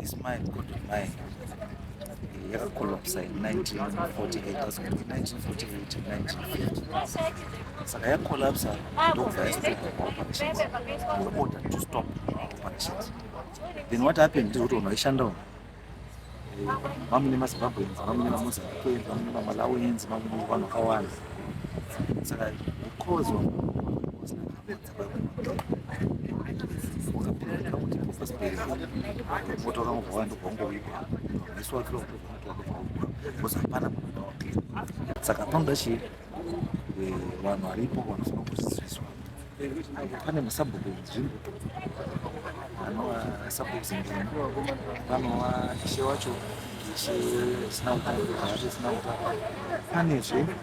This mine could be mine. yakakolapsa in 1948 saka yakolapsa ndokubva yastoppa operations were ordered to stop operations then what happened ndiri kuti vanhu vaishandawo vamune mazimbabweans vamune vamozambiqueans vamune vamalawians vamune vanhu vakawanda saka because votora mubva vandu vangowikwa musi wake because hapana saka panoda chii eh, vanhu varipo vanofanira kudzidziswa pane masabhuku enzvimbo anova sabhuku enzvimbo vanova ishe wacho ishe sina utano pane zve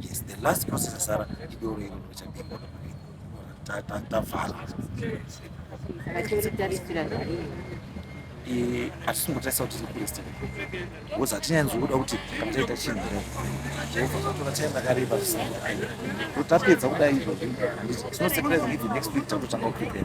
Yes, the last process asara idoro iro richapindwa tavhala hatisingotasa kuti tikurista bcause hatinyanzokuda kuti kana taita chinhu jehovha tatora time rakareba tapedza kudai izvozvi handiti tinosurprise if next week tatotanga kuprepare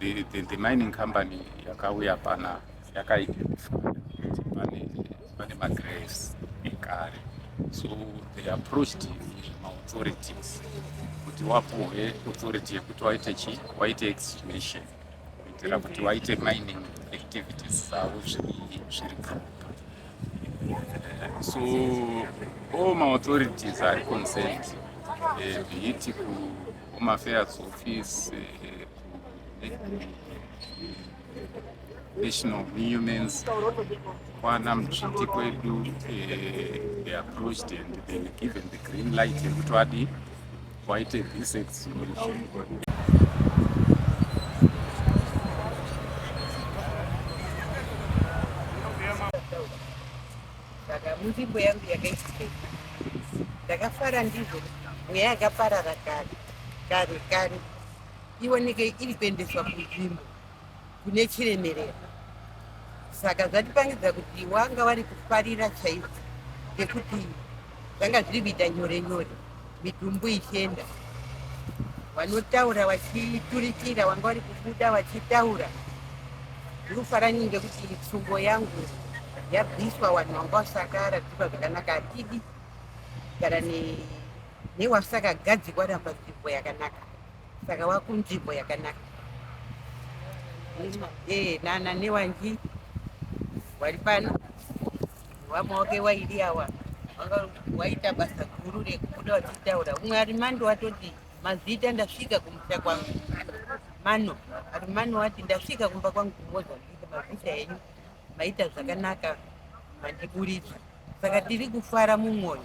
the, the, the mining company yakauya pana yakaidentifya pane, pane magraves ekare so they approached maauthorities kuti wapuhwe authority yekuti waite chi waite extination kuitira kuti waite mining activities dzavo zviri propa eh, so all maauthorities ari concerned eh, be it kuhome affairs office eh, national humans kwana mutsviti kwedu eh, they approached and they were given the green light yekuti vadi waite this exhibition munzvimbo yangu yakaitika ndakafara ndizvo mweya yakaparara kare kare kare ioneke iri kuendeswa kunzvimbo kune chiremerera saka zvatipangidza kuti wanga wari kufarira chaizvo nekuti zvanga zviri kuita nyore nyore mitumbu ichienda vanotaura vachiturikira wanga wari kubuda vachitaura ndiri kufara nyini ngekuti tsungo yangu yabviswa vanhu vanga vasakara dzikwa zvakanaka hatidi gara ne Newasakagadzikwa ra panzvimbo yakanaka saka wakunzvimbo yakanaka Eh, nana newanji wari pano wamawake wairi awa Wanga- waita basa guru rekubuda wachitaura umwe ari mando watoti mazita ndasvika kumusha kwangu mano ari mano wati ndasvika kumba kwangu kumozambika mazita enyu maita zvakanaka mandiburitsa saka tiri kufara mumwoyo